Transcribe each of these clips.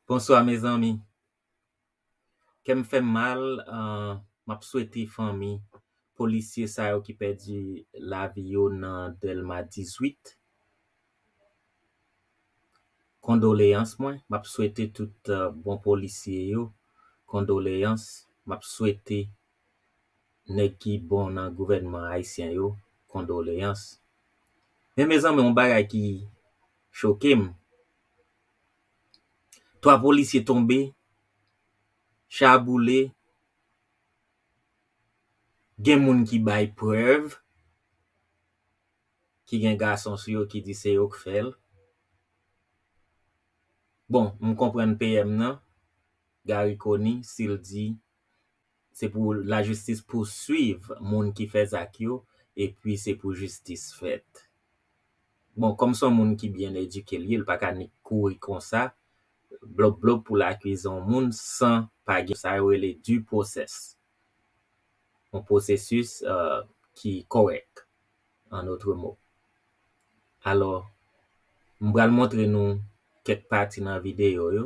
Bonswa mezanmi kèm fèm mal map swete fanmi polisye sa yo ki pèdi lavi yo nan dèlma 18 kondoleyans mwen map swete tout bon polisye yo kondoleyans map swete nèg ki bon nan gouvènman ayisyen yo kondoleyans. Men mezanmi yon bagay ki choke m, 3 polisye tonbe, cha a boule, gen moun ki bay prèv, ki gen gason sou yo ki di se yo k fè l. Bon, m konprann PM nan, Garry Conille, si l di Se pou lajistis pouswiv moun ki fè zak yo epi se pou jistis fèt. Bon, kòm son moun ki byen edike l ye, l pa ka nik kouri konsa blop blop pou l akize yon moun san pa gen sa yo rele due process, yon pwosesis ki kòrèk an otre mo. Alò, m pral montre nou kèk pati nan videyo yo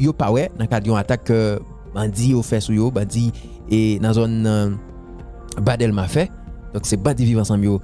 yo pa wè nan kad yon atak ke bandi yo fè sou yo, bandi e nan zòn ba Delma fè. Donk se bandi viv ansanm yo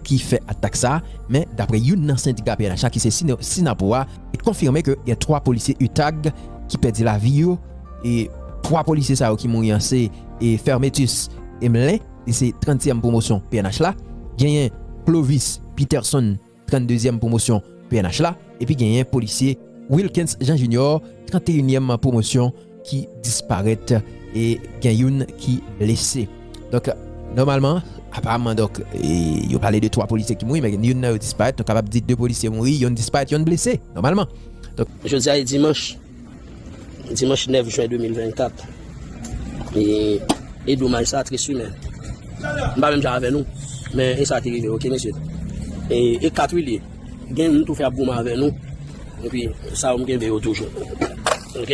ki fè atak sa a. Men dapre youn nan sendika pnh la ki se Synapoh a, li konfime ke gen 3 polisye utag ki pèdi lavi yo e 3 polisye sa yo ki mouri an se Fermetus Emelin, li se 30 tièm pwomosyon pnh la, genyen Clovis Peterson, 32 èm pwomosyon pnh la, epi genyen polisye Wilkens Jean Junior 31 èm pwomosyon ki disparèt e gen youn ki blese. Donk nòmalman, aparamman donk yo pale de 3 polisye ki mouri men youn nan yo disparèt, nou kapab di 2 polisye mouri, youn disparèt, youn blese nòmalman. Jodi a e dimanch. Dimanch 9 jen 2024 E domaj sa tris wi men M pa menm jan avè nou Men e sa ki rive ok mesye E 4 wi li ye Gen yon tou fè ap goumen avè nou E pi sa yo m kenbe yo toujou Ok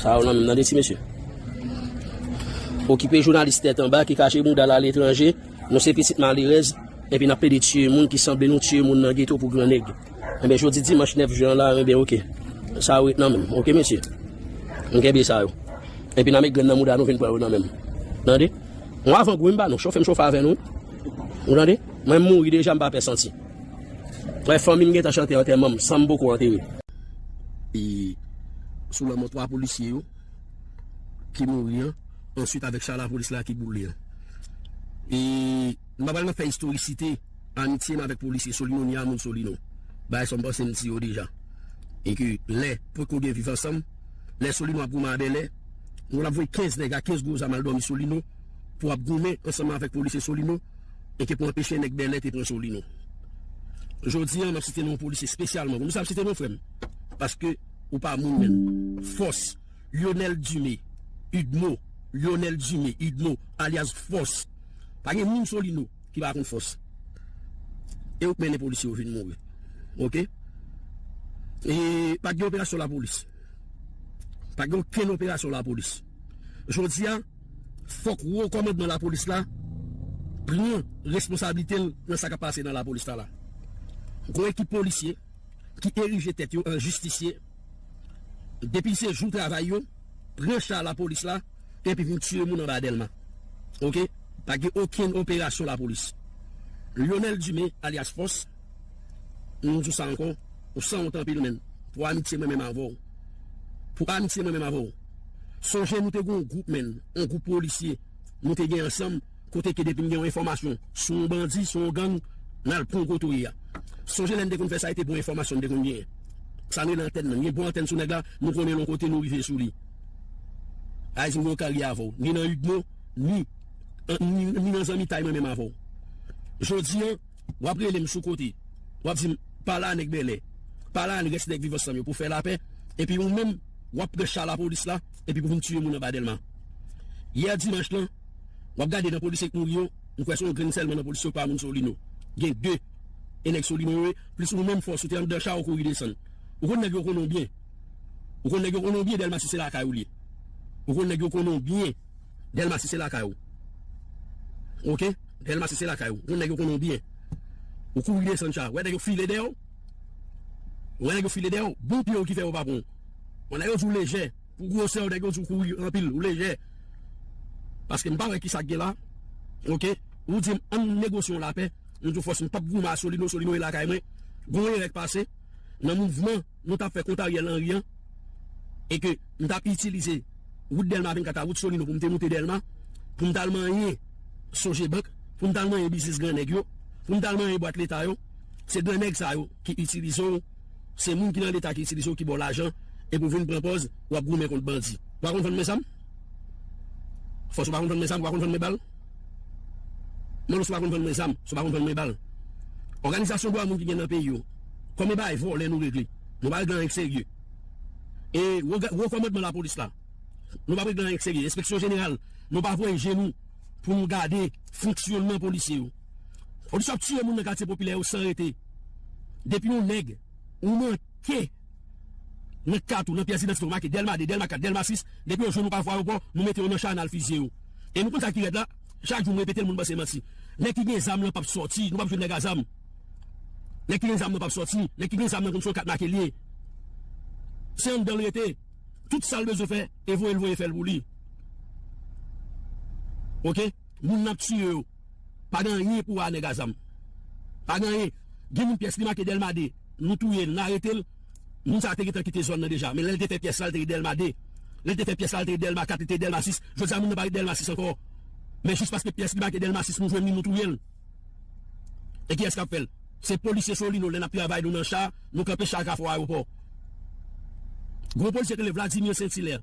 Sa yo nan menm nan de ti mesye Okipe jounalis tèt anba ki kache mou dal aletranje Nou se pitit malerèz E pi n ap plede tiye moun ki sanble nou tiye moun nan geto pou gran nèg. Enben jodi dimanch 9 jen an la enben ok sa yo ret nan menm ok mesye nou kenbe sa yo enpi nan men grenn nan mouda nou vin pran yo nan menm tande yon avan gou wi m ba nou chofe m chofe avè nou ou tande mwen m mouri deja m pa pè santi wè fanmi m gentan chante antèman m san m poko antere e sou lanmò 3 polisye yo ki mouri an answit avèk cha lapolis la ki boule an e m pa pral nan fè istorisite. Amitye m avèk polisye Solino ni a moun Solino. Bagay sa m panse m di yo deja. E ke lè pot ko gen viv ansanm, lè Solino ap goumen a Bèlè, nou ap voye 15 nèg a 15 gwo zam al dòmi Solino pou ap goumen ansanm avèk polisye Solino e ke pou anpeche nèg Bèlè te pran Solino. Jodi a m ap site non polisye spesyalman. Pou nou sa m site non frè m? Paske ou pa moun menm. Fòs, Lyonèl Dime, Udmo, Lyonèl Dime, Udmo, alyas Fòs. Pa gen moun Solino. ki pa konn fòs e ou k mennen polisye yo vin mouri ok e pa t gen operasyon lapolis pa t gen okenn operasyon lapolis jodi a fòk wo kòmandman lapolis la pran responsablite l nan sa k ap pase nan lapolis la la gen ekip polisye ki erije tèt yo an jistisye. Depi se jou travay yo, pran cha lapolis la epi vin tiye moun anba Dèlma. Ok, pa gen okenn operasyon lapolis. Lyonel Dumé alyas Fòs, m di w sa ankò, ou sanwont anpil menn, pou amitye mwen menm avè w. Pou amitye mwen menm avè w. Sonje nou te gen yon gwoup menn, yon gwoup polisye nou te gen ansanm. Kote ke depi n gen yon enfòmasyon sou yon bandi, sou yon gang, n al pran gwo touye a. Sonje lè n te konn fè sa e te bon enfòmasyon n te konn genyen. Sa n rele antèn nan. N gen bon antèn sou nèg la, nou konnen l yon kote nou rive sou li. Haïti m gen yon karye avè w, ni nan udmo, ni ni nan zanmitay mwen menm avè w. Jodi an, w ap rele m sou kote, w ap di m, pale a nèg Bèlè, pale a rès nèg Viv Ansanm yo pou fè lapè, epi ou menm, w ap pran cha lapolis la epi pou vin tiye moun anba Dèlma. Yè dimanch lan, Wap gade nan polisye k mouri yo, m kwè se yon grenn sèlman nan polisye yo k pa moun solino. Gen 2. E nèg solino yo ye, plis ou menm fòs ou te anndan cha ou kouri desann. Ou konn nèg yo konnen w byen. Ou konn nèg yo konnen w byen Dèlma si se lakay ou l ye. Ou konn nèg yo konnen w byen Dèlma si se lakay ou. Ok. Dèlma si se lakay ou. Ou konn nèg yo konnen w byen. Ou kouri desann cha. Ou wè nèg yo file dèyè w? Ou wè nèg yo file dèyè w? Bon pye w ki fè yo pa pran w. Wè lè yo di w lejè. Pou gwosè w nèg yo di w kouri anpil ou lejè paske m pa wè kisa k gen la ok ou di m an n negosye yon lapè m di w fòs m pap goumen a Solino Solino e lakay mwen gen yon erè k pase nan mouvman nou tap fè kont Ariel Henry an e ke m tap itilize wout Dèlma 24 a wout Solino pou m te moute Dèlma pou m tal manyen Sogebank pou m tal manyen biznis gran nèg yo pou m tal manyen bwat leta yo se gran nèg sa yo ki itilize w. Se moun ki nan leta ki itilize w ki ba w lajan epi w vin pran pòz w ap goumen kont bandi. Ou pa konn vann men zam? Fòs ou pa konn vann men zam, ou pa konn vann men bal? Mwen si w pa konn vann men zam, si w pa konn vann men bal. Òganizasyon dwa moun ki gen nan peyi yo, konbyen bagay vòlè nou regle? Nou pa regle anyen k serye. E wo kòmandman lapolis la, nou pa p regle anyen k serye. Enspeksyon jeneral, nou pa voye je nou pou nou gade fonksyonman polisye yo. Polis yo ap tiye moun nan katye popilè yo san rete. Depi yon nèg ou manke nan kat ou, nan pyès idantite ou make Dèlma 2, Dèlma 4, Dèlma 6, depi yo jwenn ou pa vwa yo pran w, nou mete yo nan cha n al fizye yo. E nou konn sa ki rèd la, chak jou m repete l moun panse manti. Nèg ki gen zam lan p ap sòti, nou p ap jwenn nèg a zam. Nèg ki gen zam nan p ap sòti, nèg ki gen zam nan konn se yon kat make l ye. Se anndan l rete, tout sa l bezwen fè e voye l voye fè l pou li. Ok, moun n ap tiye yo. Pa gen anyen pou a nèg a zam. Pa gen anyen. Gen moun pyès li make Dèlma 2. Nou touye l, nou arete l. Moun sa a te gentan kite zòn nan deja. Men lè l te fè pyès la, li te ret Dèlma 2. Lè l te fè pyès la, li te ret Dèlma 4, li te ret Dèlma 6. Jodi a moun nan pa ret Dèlma 6 ankò. Men jis paske pyès li make Dèlma 6 nou jwenn li, nou touye l. E kiyès k ap fè l? Se polisye Solino. Lè n ap travay nou nan cha, nou kanpe cha a kafou ayewopò. Gwo polisye ki rele Vladimir Saint-Hilaire.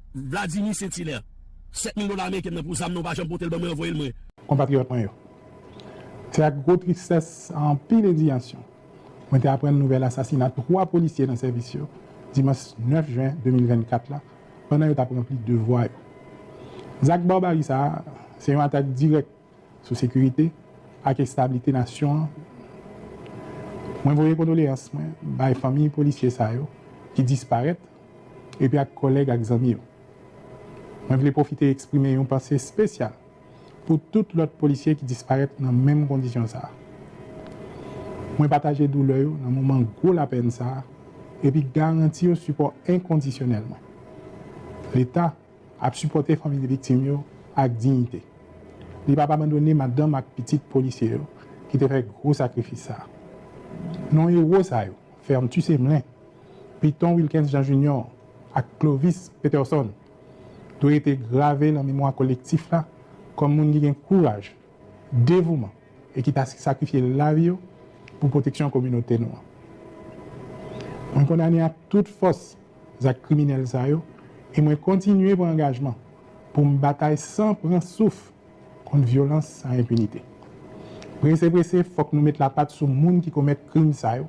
Vladimir Saint-Hilaire, 7 mil dola ameriken nan pou zam nan ou pa janm pote l ban mwen anvoye l mwen. Konpatriyòt mwen yo, se ak gwo tristès ak anpil endiyansyon mwen te aprann nouvèl asasina 3 polisye nan sèvis yo dimanch 9 jen 2024 la pandan yo t ap ranpli devwa yo. Zak barbari sa a se yon atak dirèk sou sekirite ak establite nasyon an mwen voye kondoleyans mwen bay fanmiy polisye sa yo ki disparèt epi ak kòlèg ak zanmi yo mwen vle pwofite eksprime yon panse espesyal pou tout lòt polisye ki disparèt nan menm kondisyon sa mwen pataje doulè yo nan moman gwo lapèn sa epi garanti yo sipò enkondisyonèl mwen leta Ap sipòte fanmi viktim yo ak diyite. Li pap abandone madanm ak pitit polisye yo ki te fè gwo sakrifis sa. Non ewo sa yo, Fermtus Emelin, Piton Wilkens Jean Junior ak Clovis Peterson, dwe rete grave lan memwa kolektif la kòm moun ki gen kouraj, devouman e ki ta sakrifye lavi yo pou pwoteksyon kominote nou an. Mwen kondane ak tout fòs. zak kriminèl sa yo e mwen kontinye pran angajman pou m batay san pran souf kont vyolans ak enpinite. Prese prese fòk nou met lapat sou moun ki komèt krim sa yo,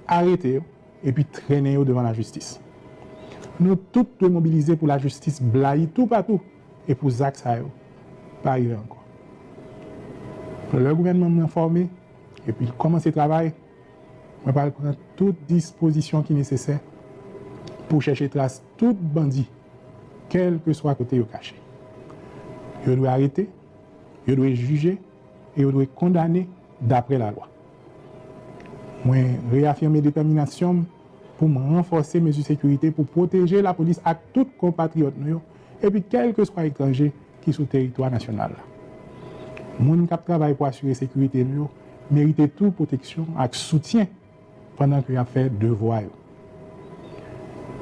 arete yo epi trennen yo devan lajistis. Nou tout dwe mobilize pou lajistis blayi toupatou e pou zak sa yo pa rive ankò. Lè gouvènman m nan fòme epi l kòmanse travay, Mwen pral pran tout dispozisyon ki nesesè pou chèche tras tout bandi kèlkeswa kote yo kache. Yo dwe arete, yo dwe jije e yo dwe kondane dapre lalwa. Mwen reyafime detèminasyon m pou m ranfòse mezi sekirite pou pwoteje lapolis ak tout konpatriyòt nou yo epi kèlkeswa etranje ki sou teritwa nasyonal la. Moun k ap travay pou asire sekirite nou yo merite tou pwoteksyon ak soutyen pandan ke y ap fè devwa yo.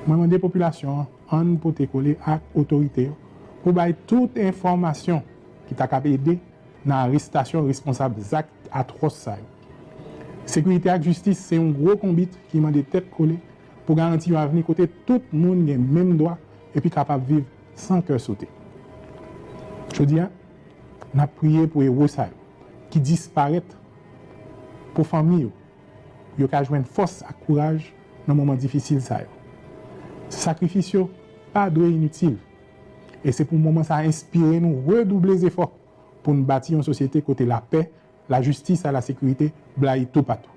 Mwen mande popilasyon an, ann pote kole ak otorite yo pou bay tout enfòmasyon ki ta kab ede nan arestasyon responsab zak atwòs sa yo. Sekirite ak jistis se yon gwo konbit ki mande tèt kole pou garanti yon avni kote tout moun gen menm dwa epi kapab viv San kè sote. Jodi a, n ap priye pou ewo sa yo ki disparèt, pou fanmi yo, pou yo ka jwenn fòs ak kouraj nan moman difisil sa yo. Sakrifis yo pa dwe initil, e se pou moman sa enspire nou redouble zefò pou n bati yon sosyete kote lapè, lajistis a lasekirite blayi toupatou.